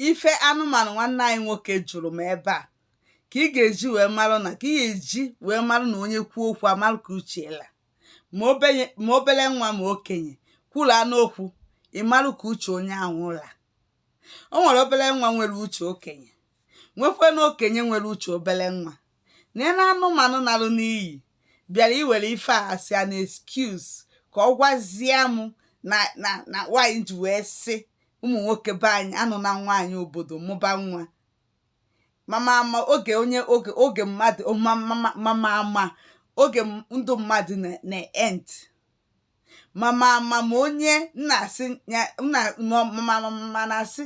ife anụmanụ nwanne anyị nwoke jụrụ m ebe a ka ị ga-eji wee marụ na ka ị ga-eji wee marụ na onye kwuo okwu amarụ ka uche la ma obenye- ma obere nwa ma okenye kwuru anụ okwu ị marụ ka uche onye ahụ la o nwere obere nwa nwere uche okenye nwekwenụ okenye nwere uche obere nwa na ya na anụmanụ narụ n'iyi bịara iwere ife a as an excuse ka ọ gwazie m na na na nwaanyị ji wee sị ụmụ nwoke be anyị anụ na nwaanyị obodo mụba nwa mama ama oge onye oge oge mmadụ mama ama oge ndụ mmadụ na-end mama mama onye na-asị ya na-asị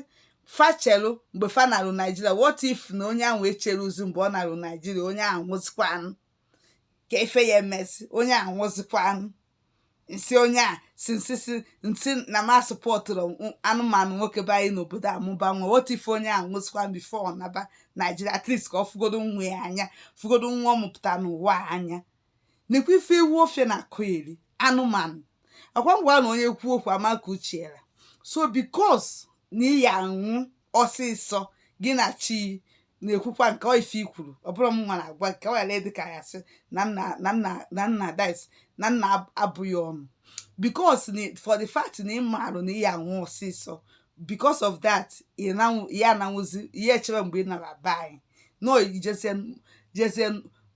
fa cheru mgbe fa narụ naijiria what if na onye ahụ echeruzi mgbe ọ narụ naijiria onye ahụ nwụzikwanụ kee ife ya emezi onye ahụ nwụzikwanụ m sị onye isi nsị isi nsị na m asụpọtụrọ anụmanụ nwoke be anyị n'obodo amụba nwa what if onye ahụ nwụzikwa before ọ naba naijiria at least ka ọ fụgodo nwa ya anya fụgodo nwa ọ mụpụta n'ụwa anya nekwa ife ewu ofịa na-akọyeri anụmanụ ọkwa m gwa na onye kwuo okwu a ma ka uche ya ra so because na ị ya anwụ ọsịsọ gị na chi na-ekwukwa nke ọ ife i kwuru ọ bụrọ m nwa na-agwa ka ọ ghara ịdị ka ya sị na nna na nna na nna dis na nna ab- abụghị ọnụ because na for the fact na ị marụ na ị ya anwụ ọsịsọ because of that ị na-anwụ- ya ananwụzi ihe echere mgbe ị nara be anyị no ijezie jezie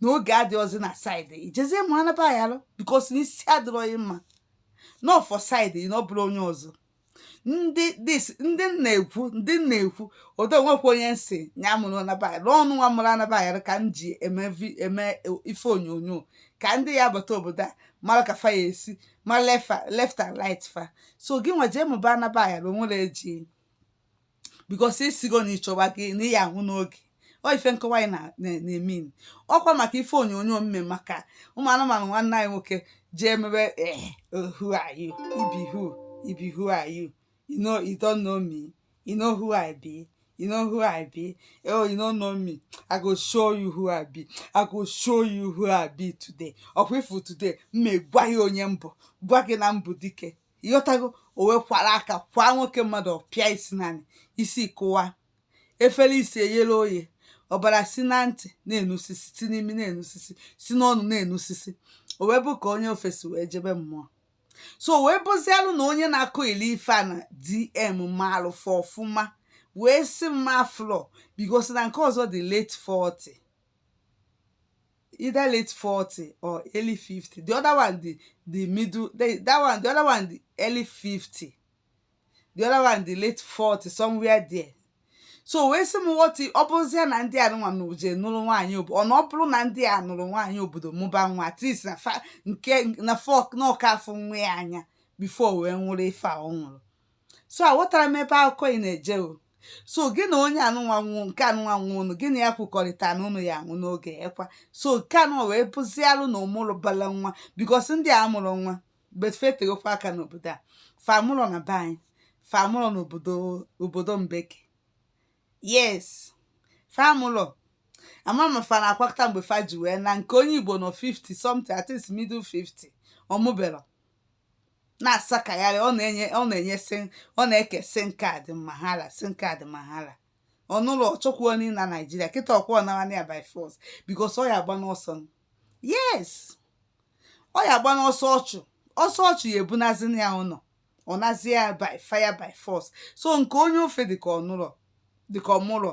na oge adịrọzi na side ị jezie mụọ anaba ya alụ because na isi adịrọ gị mma n'ofu side na ọ bụrụ onye ọzọ ndị dis ndị m na-ekwu ndị m na-ekwu odo nwekwa onye m sị ya mụrụ anaba ya ọnụ nwa mụrụ anaba ya ka m ji eme vi- eme ife onyonyo ka ndị ya bata obodo a mara ka fa ya esi ma lefa left and right fa so gị nwa jee mụba anaba ya onwere eji because ị sịgo na ịchọwa gị na ị ya anwụ n'oge ọ ife nkọwa anyị na- na- na-emean ọkwa maka ife onyonyo m me maka ụmụ anụmanụ nwanne anyị nwoke jee mebe eh, oh, who are you ibi who ibi who are you you know you don't know me you know who i be you know who i be oh you don't know me i go show you who i be i go show you who i be today ọkwa ị fụ today m ma agwa gị onye m bụ gwa gị na m bụ dike ịghọtago o wee kwara aka kwa nwoke mmadụ pịa isi n'anị isi kụwa efere isi eyere oye ọbara si na ntị na-enusisi si n'imi na-enusisi si n'ọnụ na-enusisi o wee bụ ka onye ọfụ si wee jebe mmụọ so o wee bụzialụ na onye na-akọyeli ife a na dm maalụ fọ ọfụma wee sị mma flọ because na nke ọzọ dị late 40 either late 40 or early 50 the other one the the middle the, that one the other one the early 50 the other one the late 40 somewhere there so wee sị m what if ọ bụzie na ndị anụnwa je nụrụ nwaanyị obodo ọ na ọ bụrụ na ndị a nụrụ nwaanyị obodo mụba nwa at least na fa nke na fọk na ọ ka-afụ nwa ya anya before wee nwụrụ ife a ọ nwụrụ so aghọtara m ebe akụkọ ị na-eje o so gị na onye anụnwa nwụọ nke anụnwa nwụọ unu gị na ya kwukọrịta na unu ya anwụ n'oge ekwa so nke anụnwa wee bụzialụ na ọ mụrụ bala nwa because ndị a mụrụ nwa betfetegokwa aka n'obodo a fa mụlọ na be anyị fa mụlụ n'obodo obodo mbeke yes fa mụlụ ama m fa na-akwakọta mgbe fa ji wee na nke onye igbo nọ 50 something at least middle 50 ọ mụbelọ na-asakagharị ọ na-enye ọ na-enye sị ọ na-eke sim card mahala sim card mahala ọ nụlọ ọ chọkwarọ ịna naijiria kịta ọ kwa ọ nawanị ya by force because ọ ya agba n'ọsọ nụ. yes ọ ya agba n'ọsọ ọ chụ ọsọ ọ chụ ya ebunazi na ya ụnọ ọ nazi ya by fire by force so nke onye ofe dịka ọ nụlọ dịka ọ mụlọ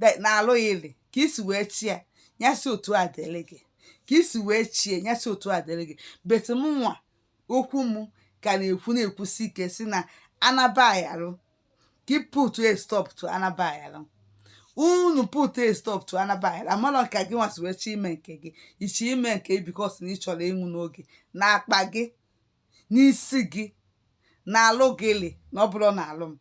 de- na-alụ gị lị ka i si wee chie ya ya si otu a dịrị gị ka i si wee chie ya si otu a dịrị gị but mụnwa okwu m ka na-ekwu na-ekwusi ike sị na anabayarụ ka ị put a stop to anabayarụ unu put a stop to anabayarụ amarọ ka gị nwa si wee chi ime nke gị i chi ime nke gị because na ị chọrọ ịnwụ n'oge na-akpa gị n'isi gị na-alụ gị lị na ọ bụrọ na-alụ m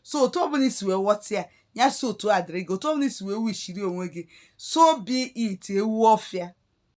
so otu ọbụla i si wee ghọta ya ya si otu a dịrị gị otu ọbụla i si wee wishiri onwe gị so be it ewu ọfịa